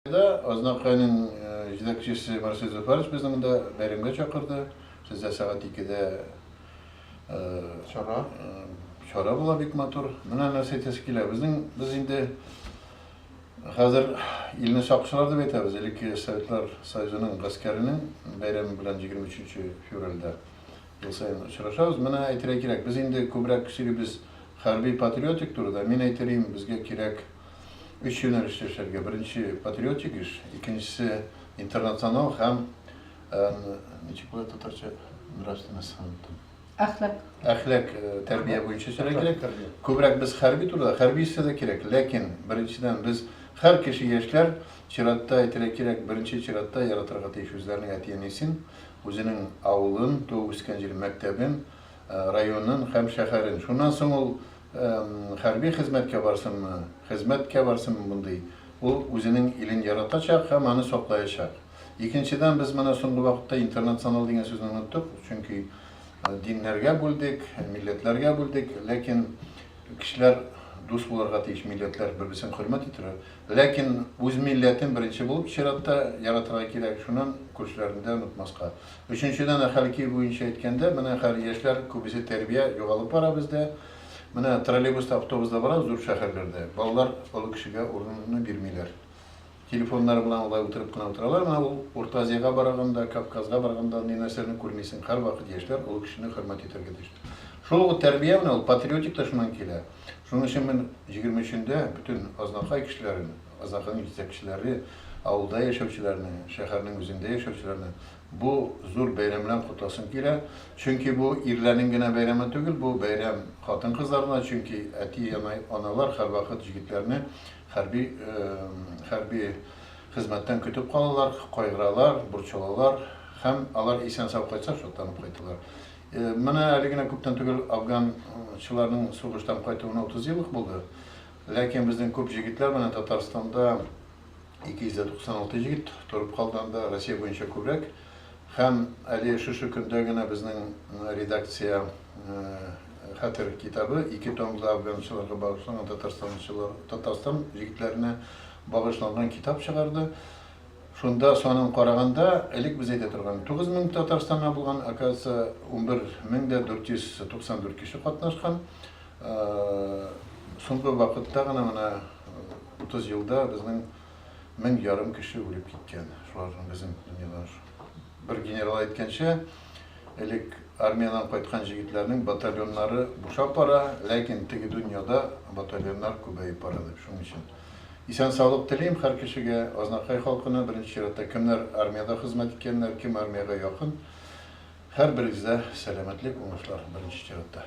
Биредә Азнакайның җитәкчесе Марсель Зөфәрович безне монда бәйрәмгә чакырды. Сездә сәгать икедә чара чара була бик матур. Менә нәрсә әйтәсе килә. Безнең без инде хәзер илне сакчылар дип әйтәбез. Элекке Советлар Союзының гаскәренең бәйрәме белән 23 февральдә ел саен очрашабыз. Менә әйтергә кирәк, без инде күбрәк сөйлибез хәрби-патриотик турыда. Мин әйтер идем, безгә кирәк өч юнәлештә эшләргә. Беренче патриотик эш, икенчесе интернационал һәм ничек була татарча нравственность һәм Әхлак. Әхлак э, тәрбия буенча эшләргә кирәк. Күбрәк без хәрби турыда, хәрби эшләр дә кирәк. Ләкин беренчедән без һәр кеше яшьләр чиратта әйтергә кирәк, беренче чиратта яратырга тиеш үзләренең әти-әнисен, үзенең авылын, туып үскән җирен, мәктәбен, районын һәм шәһәрен. Шуннан соң ул хәрби хезмәткә барсынмы, хезмәткә барсынмы мондый, ул үзенең илен яратачак һәм аны саклаячак. Икенчедән, без менә соңгы вакытта интернационал дигән сүзне оныттык, чөнки диннәргә бүлдек, милләтләргә бүлдек, ләкин кешеләр дус булырга тиеш, милләтләр бер-берсен хөрмәт итәргә. Ләкин үз милләтен беренче булып чиратта яратырга кирәк, шуннан күршеләрне дә онытмаска. Өченчедән, Әхәл кию буенча әйткәндә, менә хәл яшьләр күбесе тәрбия югалып бара бездә. Менә троллейбуста, автобуста барабыз зур шәһәрләрдә, балалар олы кешегә урынны бирмиләр. Телефоннары белән алай утырып кына утыралар. Менә ул Урта Азиягә барганда, Кавказга барганда ни нәрсәне күрмисең, һәрвакыт яшьләр олы кешене хөрмәт итәргә тиеш. Шул ук тәрбия менә ул патриотик та шуннан килә. Шуның өчен мин 23-ндә бөтен Азнакай кешеләрен, Азнакайның җитәкчеләре, авылда яшәүчеләрне, шәһәрнең үзендә яшәүчеләрне бу зур бәйрәм белән котласым килә. Чөнки бу ирләрнең генә бәйрәме түгел, бу бәйрәм хатын-кызларына, чөнки әти-аналар һәрвакыт җегетләрне хәрби хәрби хезмәттән көтеп калалар, кайгыралар, борчылалар һәм алар исән-сау кайтса, шатланып кайталар. Менә әле генә күптән түгел афганчыларның сугыштан кайтуына 30 ел ук булды. Ләкин безнең күп җегетләр менә Татарстанда 296 җегет торып калды анда, Россия буенча күбрәк. Һәм әле шушы көндә генә безнең редакция Хәтер китабы ике томлы афганчыларга багышланган Татарстан җегетләренә багышланган китап чыгарды. Шунда санын караганда, элек без әйтә торган 9 мең Татарстаннан булган, оказывается, 11 мең дә 494 кеше катнашкан. Соңгы вакытта гына, менә 30 елда безнең мең ярым кеше үлеп киткән. Шуларның безнең дөньядан шу. Бер генерал әйткәнчә, элек армиядән кайткан җегетләрнең батальоннары бушап бара, ләкин теге дөньяда батальоннар күбәеп бара дип, шуның өчен. Исән саулык телим хәр кешегә, Азнакай халкына, беренче чиратта кемнәр армиядә хезмәт иткәннәр, кем армиягә якын, хәр берегездә сәламәтлек, уңышлар беренче чиратта.